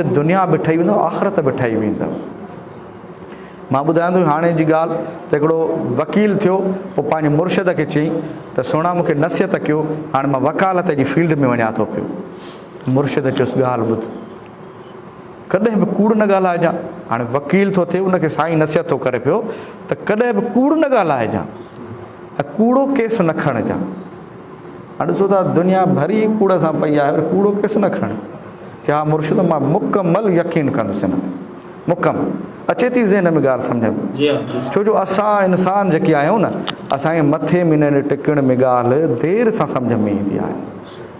دنيا به ٺهي ويندو آخرت به ٺهي ويندو مان ٻڌايان ٿو هاڻي جي ڳالهه ته هڪڙو وڪيل ٿيو پوء پنهنجي مرشد کي چئي ته سهڻا مون کي نصيحت ڪيو هاڻي مان وڪالت جي فيلڊ ۾ وڃان ٿو پيو مرشد چيس ڳالهه ٻڌ ڪڏهن به ڪوڙ نه ڳالهائجان هاڻي وڪيل ٿو ٿئي ان کي سائين نصيحت ٿو ڪري پيو ته ڪڏهن به ڪوڙ نه ڳالهائجان ۽ ڪوڙو ڪيس نه کڻجان هن ڏسو ته دنيا ڀري ڪوڙ سان پئي آهي، پر ڪوڙو ڪيس نه کڻي. ڪيا مرشد مان مڪمل يقين ڪندس ان تي. مڪم اچي ٿي ذهن ۾ ڳالهه سمجهه ۾. ڇو جو اسان انسان جيڪي آهيون نه، اسان جي مٿي ۾ ننڊ ٽڪڻ ۾ ڳالهه دير سان سمجهه ۾ ايندي آهي.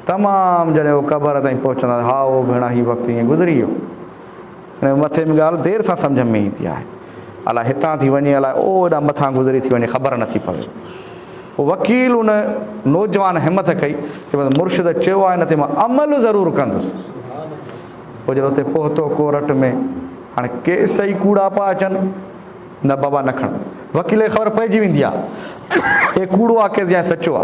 تمام جڏهن اهو قبر تائين پهچندا ته هائو ڀيڻا هي وقت ائين گذري ويو. هن مٿي ۾ ڳالهه دير سان سمجهه ۾ ايندي آهي. الاء هتان ٿي وڃي الاء او هيڏانهن مٿان گذري ٿي وڃي خبر نه ٿي پوي. پوء وڪيل ان نوجوان همٿ ڪئي چيو مرشد چيو آهي ان تي مان عمل ضرور ڪندس. پوء جڏهن اتي پهتو ڪورٽ ۾ هاڻي ڪيس ئي ڪوڙا پيا اچن. نه بابا نه کڻ. وڪيل کي خبر پئجي ويندي آ اهي ڪوڙو آ ڪيس يا سچو آ.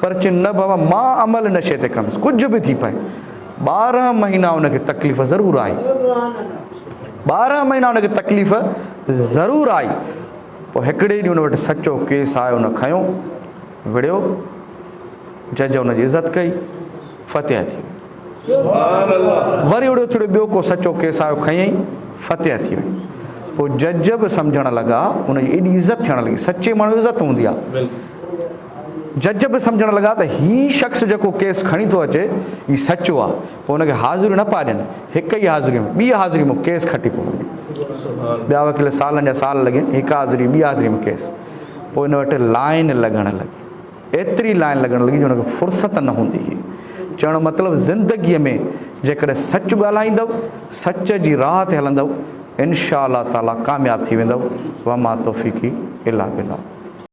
پر چيم نه بابا مان عمل ان شيء تي ڪندس ڪجهه به ٿي پئي. ٻارهن مهينا ان کي تڪليف ضرور آئي. ٻارهن مهينا ان کي تڪليف ضرور آئي. پوء هڪڙي ڏينهن ان وٽ سچو ڪيس آيو ان کنيو وڙهيو. جج ان جي عزت ڪئي. فتح ٿي ويو. وري اڙيو ٿڙيو ٻيو ڪو سچو ڪيس آيو کنئين فتح ٿي وئي پوء جج به سمجهڻ لڳا ان جي ايڏي عزت ٿيڻ لڳي سچي ماڻهو عزت هوندي آ جج به سمجهڻ لڳا ته هي شخص جيڪو ڪيس کڻي ٿو اچي هي سچو آ پوء ان کي حاضريون نه پيا ڏين هڪ ئي حاضري ۾ ٻي حاضري ۾ ڪيس کٽي پيو وڃي ٻيا وڪيل سالن جا سال لڳين هڪ حاضري ٻي حاضري ۾ ڪيس پوء ان وٽ لائن لڳڻ لڳي ايتري لائين لڳڻ لڳي جو هن کي فرصت نه هوندي هئي. چوڻ جو مطلب زندگيء ۾ جيڪڏهن سچ ڳالهائيندؤ، سچ جي راهه تي هلندؤ، انشاء الله تعاليٰ ڪامياب ٿي ويندؤ، وما توفيقي الا بالله.